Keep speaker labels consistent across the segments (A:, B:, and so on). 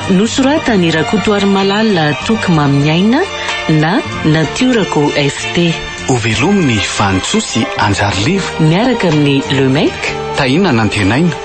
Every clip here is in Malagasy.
A: Nosoratan'i
B: Rakotoarimalala Toky Mamin'ny Aina na Natiorako FT. Ho velomin'ny
A: Vanintsoa sy Anjariliva. Miaraka amin'ny
B: Le Mec. Tahiana
A: Nantenaina.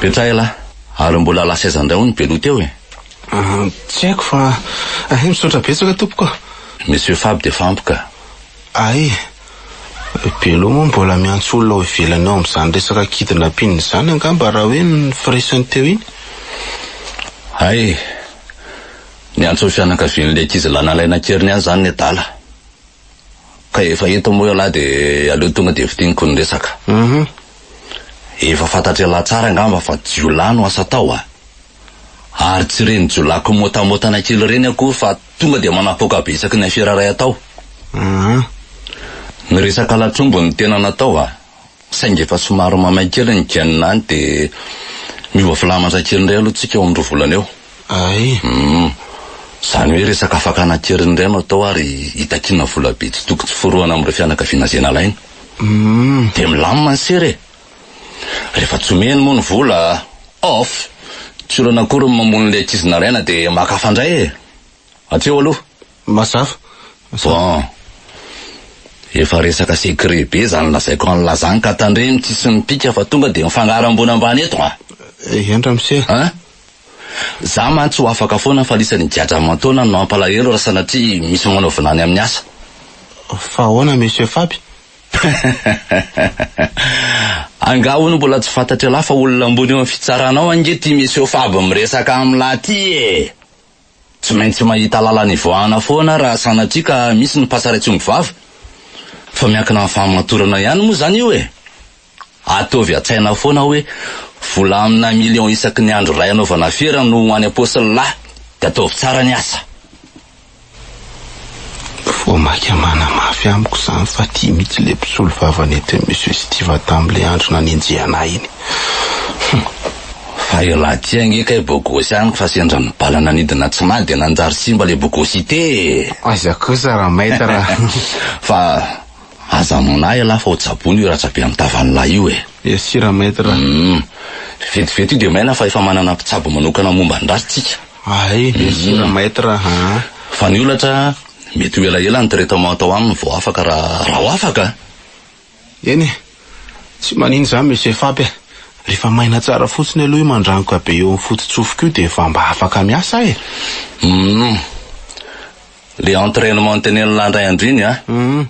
C: Betsaka ialahy, ary mbola lasa aiza indray hoy ny Beloha teo e? Ah, tsy
D: haiko fa hay, misaotra betsaka tompoko a! Monsieur Faby
C: dia fa ampy ka! Hay,
D: Beloha moa mbola miantso olona ao ivelany ao amin'izany resaka kidnapping izany angamba raha hoe ny firesany teo iny?
C: Hay, niantso ny fianakavian'ilay ankizilahy nalaina an-keriny ahy izany ny adala. Ka efa eto moa ialahy dia aleo tonga dia fintiniko ny resaka. Uhum. Efa fantatr'ialahy tsara angamba fa jiolahy no asa tao a! Ary tsy ireny jiolahy kimotamotana kely ireny akory fa tonga dia manapoaka be isaky ny afera iray atao. Uhum. Ny resaka latrombo no tena natao a! Saingy efa somary mamay kely ny gen any dia miova filamantsay kely indray aloha tsika eo amin'ny roa volana eo. Ay. Humm.
D: Izany
C: hoe resaka fakana kely indray no atao ary hitakiana vola be tsy tokony tsy forohana amin'ireo fianakaviana izay nalaina. Humm. Dia milamina ny sera e. Rehefa tsy omeny moa ny vola, off, tsy olana akory ny mamono ilay ankizy nalaina dia maka hafa indray e. Atseo aloha mazava.
D: Bon.
C: Efa resaka secret be zany lazaiko an'i la zany ka tandremo tsy hisy mipika fa tonga dia mifangaro ambony ambany eto a! Eehn ramose a!
D: An!
C: Za mantsy ho afaka foana fa lisany gadra aman-taonany no hampalahelo raha sanatria misy manaovina any amin'ny asa. Fa
D: ahoana monsieur Faby?
C: Angaha hono mbola tsy fantatr'ialahy fa olona ambony eo amin'ny fitsaranao ange ity monsieur Faby miresaka amin'lah ty e! Tsy maintsy mahita lalana ivoahana foana raha sanatria ka misy ny mpasary atsongo vava. Fa miankina amin'ny fahamatorana ihany moa izany io e! Ataovy an-tsaina foana hoe vola amina millions isaky ny andro iray anaovana fiera no ho an'ny apostle lahy, dia ataovy tsara ny asa.
D: Voamaika manamafy amiko izany fa tia mihitsy ilay mpisolo vava nentin'i Monsieur Stiva tamin'ilay andro nanenjehana ahy iny. Humm.
C: Fa elah ty ange kay bogosy amiko fa sendra ny bala nanidina tsy maty dia nanjary simba ilay bogosité e! Aiza kosa
D: ra maître a! Fa
C: aza amono ahy elah fa ho tsaboina io ratra-be amin'ny tavan'lah io e! Merci ra maître a!
D: Humm. Vetivety
C: io dia maina fa efa manana mpitsabo manokana momba ny ratsy tsika. Ahay sera
D: maître aa. Fa ny olatra
C: mety ho elaela ny traitement atao aminy vao afaka raha ho afaka a! Eny
D: e, tsy manino izany Monsieur Fab e, rehefa maina tsara fotsiny aloha io mandrangoka be eo amin'ny foto-tsofiko io dia vao mba afaka miasa aho e! Humm.
C: Le entrainement notenenin'i lahy indray andro iny a! Humm.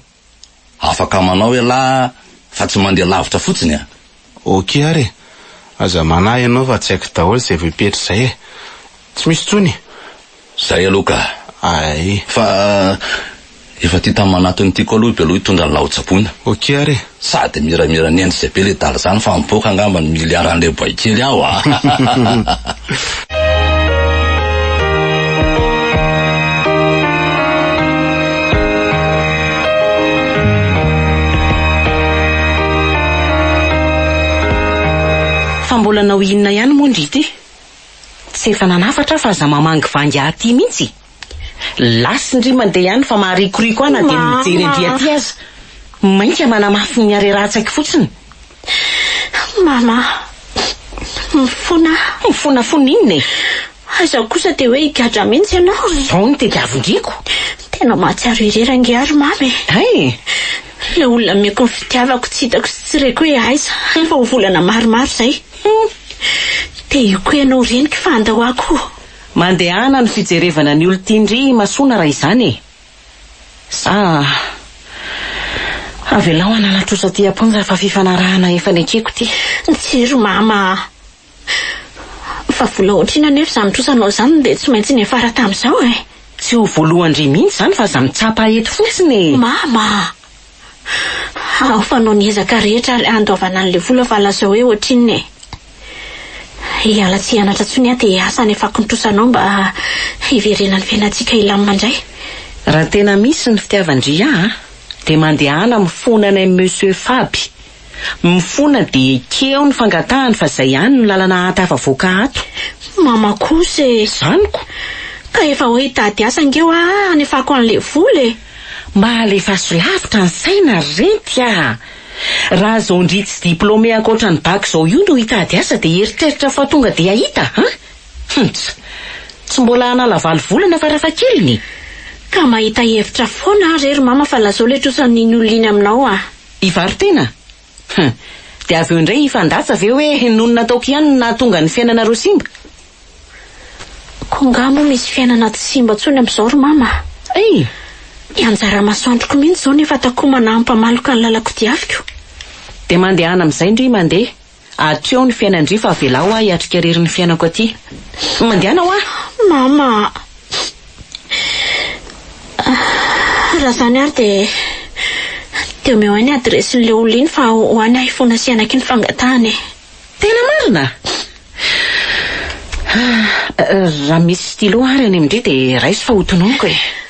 C: Afaka manao ialahy fa tsy mandeha lavitra fotsiny a! Ok ary e!
D: Aza manahy ianao fa tsy haiko daholo izay voapetra izay e! Tsy misy intsony e! Izay aloha
C: ka! Ay! Fa efa tia tamin'ny manatony ity koa aloha i Belo hitondra ny laho-tsaboina. Ok ary e!
D: Sady miramira
C: ny ends izay be le dala izany fa mipoaka angamba ny miliaran'ilay boay kely ao a!
B: Fa mbola hanao inona ihany moa ndry ity? Tsy efa nanafatra aho fa aza mamangivangy aty mihitsy e! Lasin-dry mandeha ihany fa maharikoriko ahy na dia ny mijery an'dry aty aza. Mainka manamafy ny harerahan-tsaiko fotsiny.
E: Mama, mifona aho. Mifonafona inona e?
B: Aiza kosa
E: dia hoe higadra mihitsy ianao e? Izao ny tediavin-driko.
B: Tena mahatsiaro
E: irery ange aho ry mama e. Hay!
B: Ilay olona
E: nomeko ny fitiavako tsy hitako sy tsy reko hoe aiza, efa ho volana maromaro izay. Te hioko ianao reniko fa andao aho koa. Mandehana
B: ny fijerevana ny olon-tia ndry Imasoana raha izany e! Sa avelao hanana trosa aty am-ponja fa fifanarahana efa nekeko ity. Tsia ry mama
E: a! Fa vola otrina anefa izany trosanao izany dia tsy maintsy niafara tamin'izao e! Tsy ho voalohan-dry
B: mihitsy izany fa aza mitsapa eto fotsiny e! Mama a!
E: Ao fanao ny ezaka rehetra ary handoavana an'ilay vola fa lazao hoe ohatrinona e. Hiala tsy hianatra intsony aho dia asa any afakontrosanao mba hiverenan'ny fiainantsika hilamina indray. Raha tena
B: misy ny fitiavan-dry ahy dia mandehana mifona anay Monsieur Faby Mifona de ekeo ny fangatahany fa zay ihany no lalana ahatafavoaka ato. Mama
E: kosa e! Zaniko!
B: Ka efa
E: hoe hitady asa ange hoa hanefako an'le vola e! Mba
B: alefaso lavitra ny saina ry renty a! Raha zao ndry tsy diplômé ankoatra ny bac zao io no hitady asa de eritreritra fa tonga de hahita an! Huntz! Tsy mbola hanala valo volana farafahakeliny e! Ka
E: mahita hevitra foana aho re ry mama fa lazao le trosa ny ny olona iny aminao a! Hivaro-tena?
B: Huh! Dia avy eo indray hifandatsa ve hoe noho ny nataoko ihany no nahatonga ny fiainanareo simba? Koa
E: angaha moa misy fiainana tsy simba intsony amin'izao ry Mama a! Hey! Ny anjara masoandroko mihitsy izao no efa takomana hampamaloka ny lalan-kodiaviko. Dia
B: mandehana amin'izay ndry mandeha. Atreo ny fiainan-dry fa avelao aho hiatrika irery ny fiainako aty. Mandehana hoa! Mama
E: a! Raha izany ary dia dia omeo ahy ny adiresin'ilay olona iny fa ho any aho hifona sy hanaky ny fangatahany e! Tena marina?
B: Raha misy stylo ary any amin-dry dia raiso fa ho tononiko e!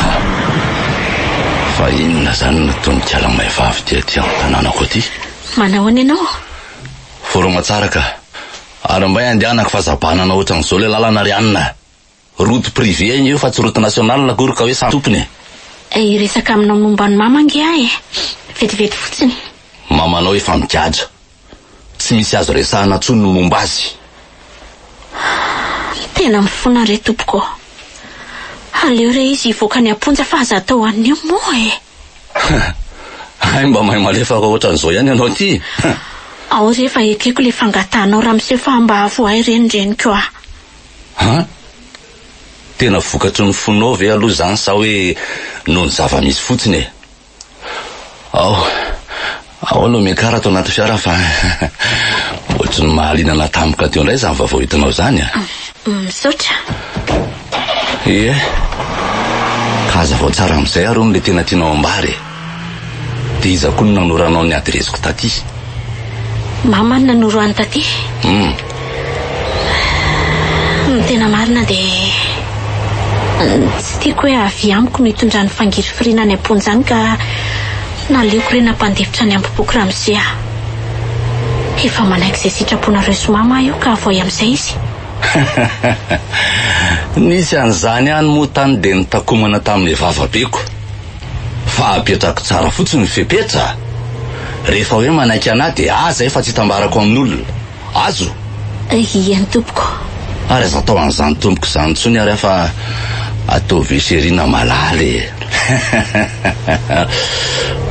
C: Ha! Fa inona izany no tononkala maivavy dia aty amin'ny tanànako aty? Manao ahoana ianao?
E: Foroma
C: tsara ka. Ary mbay andehanako fa zabanana ohatran'izao ilay lalana ry Ann a! Route privée anie io fa tsy route nationale akory ka hoe samy tompony e! Hiresaka
E: aminao momba an'i Mama ange aho e! Vetivety fotsiny. Mamanao efa
C: migadra. tsy misy azo resahana tsony ny momba azy. Ahh
E: tena mifona re tompoko ô! Aleo re izy hivoaka any amponja fa aza atao anio moa e!
C: Hay mba mahay malefaka ohatran'izao ihany ianao ity hein! Ao re
E: efa ekeko ilay fangatahanao Ramose fa mba avohay re ny reniko a! An!
C: Tena vokatry ny fonao ve aloha izany sa hoe noho ny zava-misy fotsiny e! Ao, ao no miakara ato anaty fiara fa ohatry ny mahaliana natampoka teo indray izany vaovao hitanao izany ah. Misaotra.
E: Ie.
C: Ka hazavao tsara amin'izay ary hono le tena tianao ambara e. Dia iza koa no nanoro anao ny adiresiko taty?
E: Mama no nanoro an'i taty. Hum. Ny tena marina dia tsy tiako hoe avia amiko no itondrany fangirifiriana any am-ponja any ka naleoko re nampandefitra any am-poko ramose aho. Efa manaiky izay sitraponareo sy mama aho io ka avoay amin'izay izy.
C: Nisy an'izany ihany moa tany dia nitakomana tamin'ny vavabeko fa apetrako tsara fotsiny ny fepetra, rehefa hoe manaiky anà dia aza efa tsy hitambarako amin'olona. Azo? Ie
E: ny tompoko. Ary aza atao
C: an'izany tompoko izany intsony ary aho fa ataovy io chérie na malala e!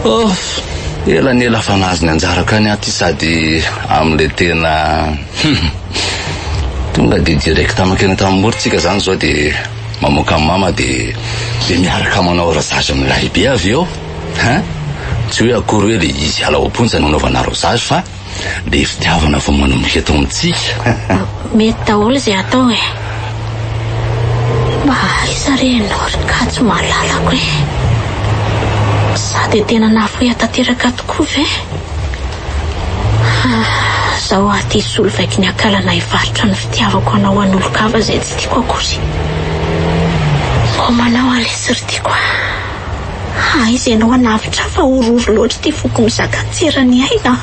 C: Off! Ela ny ela fa nahazo ny anjarako any aho ty sady amin'ilay tena tonga dia direct mankeny Antanimora tsika izany izao dia mamoaka an'i mama dia dia miaraka manao rasage amin'ny lahibe avy eo hein! Tsy hoe akory hoe ilay izy hiala ao am-ponja no anaovanareo zasy fa. Dia fitiavana vao manomboka eto amintsika. Mety daholo
E: izay atao e. Mba aiza re ianao ry Kajy malalako e. Za dia tena nafoia tanteraka tokoa ve? Ha, zao aho ty hisolo vaiko ny akalana hivarotra ny fitiavako anao an'olon-kafa izay tsy tiako akory. Koa manao alesy ry tiako a. Aiza ianao hanavotra ahy fa horohoro loatra ity foko mizaka an-tseran'ny aina a!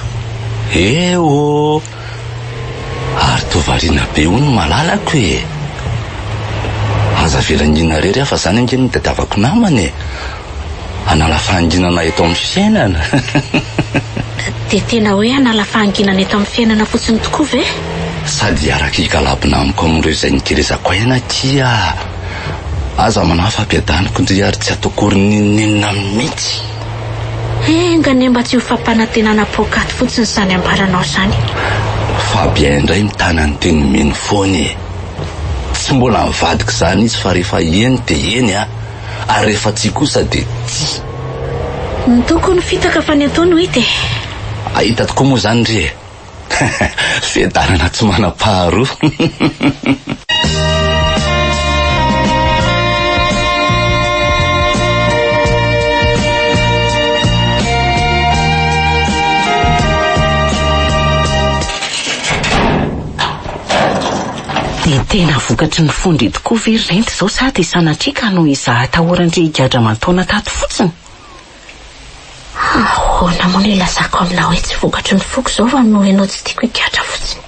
E: Eh ô!
C: Ary toa variana be hono ny malalako e! Aza avela hingina irery aho fa izany ange no itadiavako namana e! Hanala fahanginana eto amin'ny fiainana!
E: Dia tena hoe hanala fahanginana eto amin'ny fiainana fotsiny tokoa ve? Sady hiaraka
C: higalabona amiko amin'ireo izay nikelezako aina akia! Aza manahy fa ampiadaniko ndry ary tsy ataoko akory n'inon'inona mihitsy.
E: Enga anie mba tsy ho fampanantenana poakaty fotsiny zany ambaranao zany e. Fabien
C: indray mitana ny teny mino foana e. Tsy mbola ny vadiko izany izy fa rehefa eny dia eny an, ary rehefa tsia kosa dia tsia. Ny
E: tokony ho fitaka fa ny atao no hita e. Ahita
C: tokoa moa izany ndry e. Fiadanana tsy manam-paharoa.
B: Dia tena vokatry ny fo ndry tokoa ve ry rent izao sa dia sanatria ka noho izaho atahorandry higadra aman-taona tato fotsiny?
E: Ahoana moa no hilazako aminao hoe tsy vokatry ny foko izao fa noho ianao tsy tiako higadra fotsiny.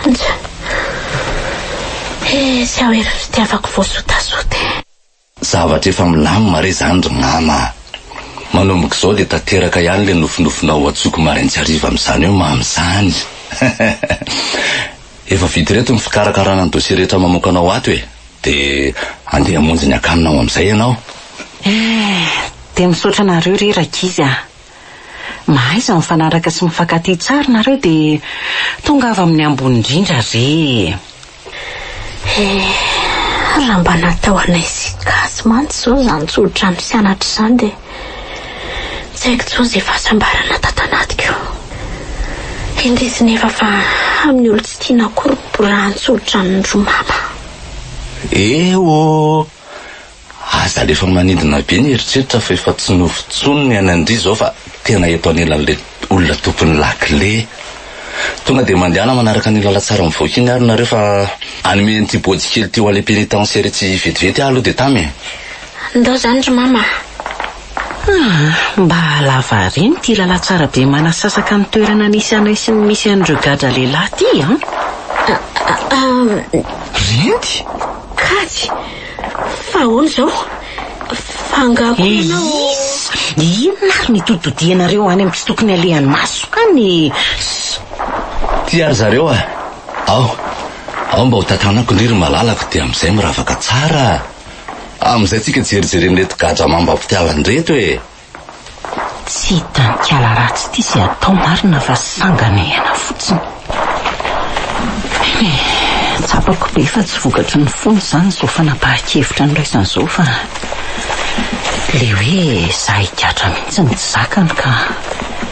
E: Antsa. He, tsy aho ery fitiavako voasotasota e. Zavatra
C: efa milamina re izany ry mama a! Manomboka izao dia tanteraka ihany ilay nofinofinao ho antsoiko marain-tsy hariva amin'izany hoe mamy izany. Efa vita ireto ny fikarakarana ny dosie rehetra mamoaka anao ato e! Dia andeha hamonjy ny akaninao amin'izay ianao. Eh,
B: dia misaotra anareo re rankizy ah. Mahaiza mifanaraka sy mifankatia tsara nareo dia tongava amin'ny ambony indrindra re eh. Eh,
E: raha mba natao anay sy Gasy mantsy izao izany tsodrano sy anatra izany dia Tsy haiko intsony izay fahasambarana tato anatiko. Indrisy nefa fa amin'ny olon-tsy tiana akory no borahan-tsolitra ny ry Mama. Eo ô!
C: Aza alefa manidina be ny eritreritra fa efa tsy nova intsony ny an'Andry izao fa tena eto anelan'ilay olona tokony lakile. Tonga dia mandehana manaraka ny lalantsara mivoaka iny ary nareo fa hanome an'ity body kely ity ho any pénitentiaire ity vetivety aho aloha dia tamy e. Ndao zany
E: ry mama a. Ah,
B: mba lava àry ny ity lalantsara be manasasaka ny toerana nisy anay sy ny misy an'ireo gadra lehilahy ity an!
C: Renty! Kajy!
E: Fa ahoana izao? F'angaha koa ianao. Eisy! Inona
B: ary ny toditodianareo any amin'ny tsy tokony alehan'ny maso any e!
C: Ty ary zareo a! Ao, ao mba ho tantanako ndry ry malalako dia amin'izay miravaka tsara a! Amin'izay tsika jerijeren'ireto gadra amam-bampitiavana ireto e!
B: Tsy hitan-kiala ratsy ity izay atao marina fa sangana iaina fotsiny. He, tsapako be fa tsy vokatry ny fony izany izao fanapahan-kevitra noraisana izao fa ilay hoe za higadra mihitsy no tsy zakany ka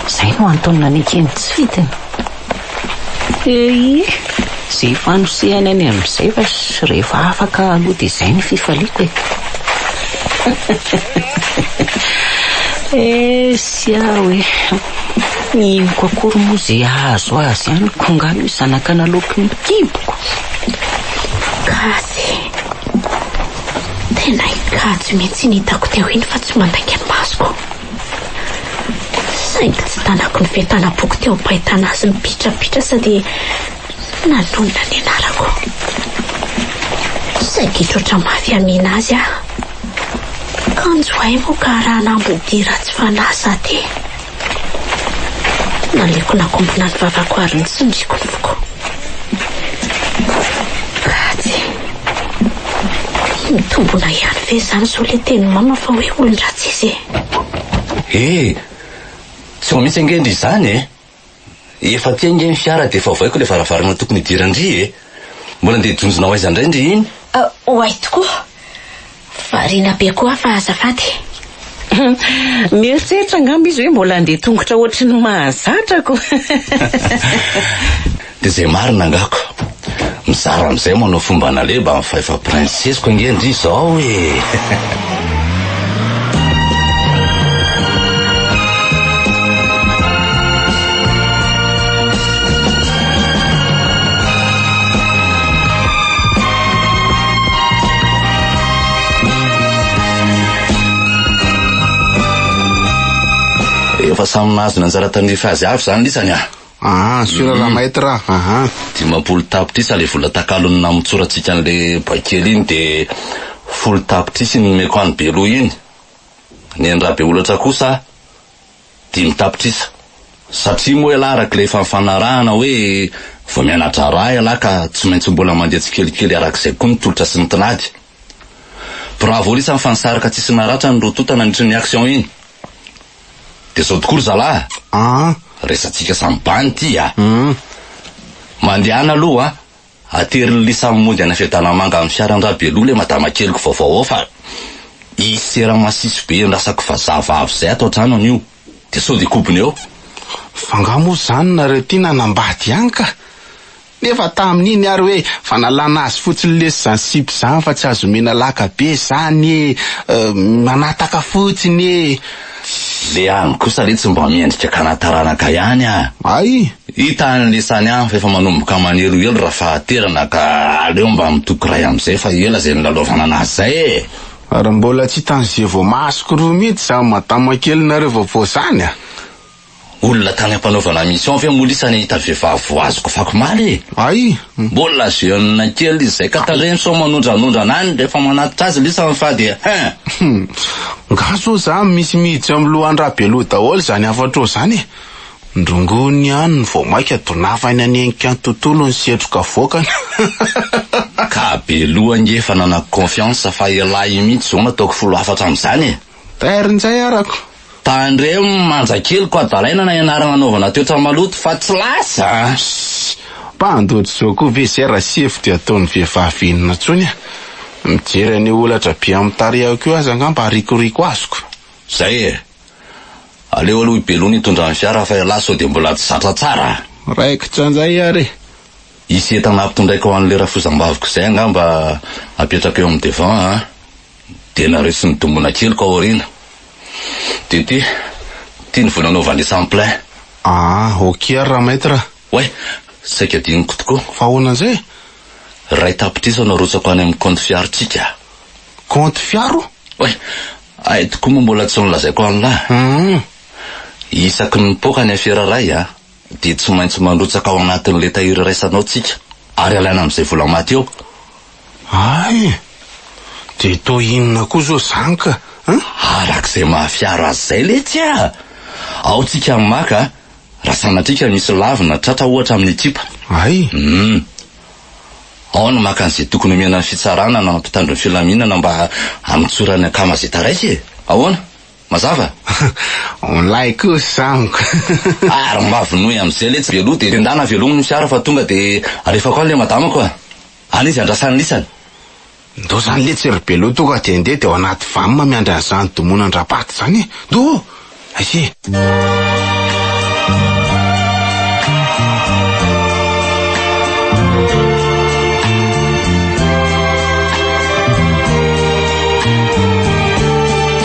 B: izay no antony nanekeny tsy fidiny. EI, Izay fanosehana ny amin'izay fa rehefa afaka aloha dia izay ny fifaliako e! Esia hoe, ny inoko akory moa izay hahazo azy ihany ko nga io zanak'analoko io kiboko! Gasy,
E: Tena hikajy mihitsy ny hitako teo iny fa tsy mandainga ny masoko. Saingy tsy tanaky ny fentanam-poko teo am-pahitana azy mipitrapitra aza dia nanonona ny anarako. Saingy hitroatra mafy hamihina azy aho. Kanjo hay moa ka raha hanambodihy ratsy fanahy za dia. Naleoko nakombona ny vavako ary nitsindriko ny foko. Ratsy. Mitombona ihany ve izany izao ilay tenin'i Mama fa hoe olon-dratsy izy e? He!
C: Tsy vao misy ange ndry izany e! Efa aty ange ny fiara dia efa ovaiko ilay varavarana tokony hidiran-dry e! Mbola ndeha jonjona ho aiza indray ndry iny? Ho aiza tokoa?
E: Variana be koa fa azafady.
B: Mieritreritra angamba izy hoe mbola handeha tongotra ohatry ny mahazatra ko.
C: Dia izay marina angako. Mizara amin'izay manao fomba naleba amin'ny fahefam princesse-ko ange ndry izao e! Efa samy nahazo ny anjara tandrify azy avy izany lisany ah. Ah, sur la
D: maître ah. Aha. Dimampolo tapitrisa
C: ilay vola takalony namotsorantsika an'ilay baikely iny dia folo tapitrisa iny nomeko an'i Beloha iny. Ny an'i Rabeolatra kosa Dimy tapitrisa. Satria moa ialahy araka ilay efa nifanarahana hoe vao miana-draharaha ialahy ka tsy maintsy mbola mandeha tsikelikely araka izay koa ny tolotra sy ny tinady. Bravo Risa fa nisarika tsisy naratra ny rotota nandritry ny action iny. Dia izao tokoa ry zalahy a! Resatsika samy bany ity a! Mandehana aloha a! Ateriny li samy mody any Fedanamanga amin'ny fiaran dra Belo le madama keliko vaovao ao fa i sera masiso be endrasako vazaha vavy zay ato antrano anio de sode kobony eo. Fa nga
D: moa zany nareo ty nanambady ihany ka! Nefa tamin'iny ary hoe fa nalana azy fotsiny lesy zany sipa zany fa tsy azo omena laka be zany e! Manataka fotsiny e! Le
C: any kosa re tsy mba mendrika kana taranaka ihany ah. Ay!
D: Hita any lisany
C: any fa efa manomboka manerohero ra fahaterana ka aleo mba mitoky ray amzay fa ela zay nilalaovana anazy zay e! Ary mbola
D: tsy hitan'ze voamasoko roa mihitsy zany madama kelinareo vaovao zany a! Olona
C: tany ampanaovana mission ve moa lisa nahita vehivavy voaziko fako maly e! Ay!
D: Mbola jeune
C: kely izay ka tarehiny sao manondranondrana any rehefa manatitra azy lisa ny fa dia hein!
D: Nga zao za misy mihijo eo am lohan Rabeloha daholo zany hafatra eo zany e! Ndrongony ihany ny vao maika donavany hanenika ny tontolo ny setroka avoakany
C: Ka Beloha ange efa nanako confiance fa elah io mihitsy zao no ataoko folo hafatra am zany e! Very ny jairako.
D: Tandremo ny
C: manja kely ko adalaina na ianarana anaovana toetra maloto fa tsy lasa a! Ssy!
D: Mpandoto izao koa ve zay raha sefo dia ataony vehivavy inona tsony a! Mijery an'io holatra be amin'ny tarehako io aza angamba arikoriko azoko. Zay e!
C: Aleo aloha i Belo no hitondra ny fiara fa ialahy sao dia mbola tsy zatra tsara a! Raikitra njay
D: ary e! Hisy entana
C: ampitondraiko ho an'ilay rafozambaviko izay angamba apetrako eo amin'ny devant a! Dia naretsy ny dongona keliko aoriana. DP, Ty ny vola anaovan'le samplin. Aa, ok
D: ary ra maitre. Oay,
C: saika adinoko tokoa. Fa ahoana an'izay?
D: Iray
C: tapitrisa no arotsako any amin'ny kaonty fiarontsika. Kaonty
D: fiaro? Oay,
C: hay tokoa moa mbola tsy nolazaiko an'la. Hum. Isaky ny mipoaka ny afera iray an. dia tsy maintsy manrotsaka ao anatin'ilay tahiry iraisanao tsika ary alaina amin'izay vola maty eo. Hay
D: e! Dia toa inona koa izao izany ka a? Arak'izay
C: mahafiaro azy izay letsy a! Ao tsika no maka a! Raha sanatria ka misy lavo na tratra ohatra amin'ny ekipa. Hay! Hum! Ao no maka an'izay tokony omena ny fitsarana na ny mpitandro ny filaminana mba hamitsoran'ny akama izay taraika e! Ahoana? Mazava? On
D: lahy kosa amiko. Ary mba
C: vonoy amzay letsy be loha de endana avelominy ny fiara fa tonga de alefako any le madamako a! Any izy andrasany lisany. Ndao
D: zany letsy ry Beloha tonga de ndeha de ao anaty vam miandry anzany domonan drapaty zany e! Ndao ô! Aici e!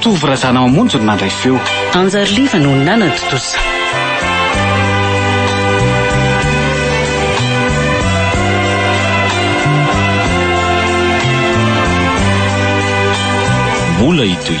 B: Tovo Razanamamonjy
A: no nandray feo. Anjary Liva no
B: nanan-tontosa.
F: Mbola hitohy.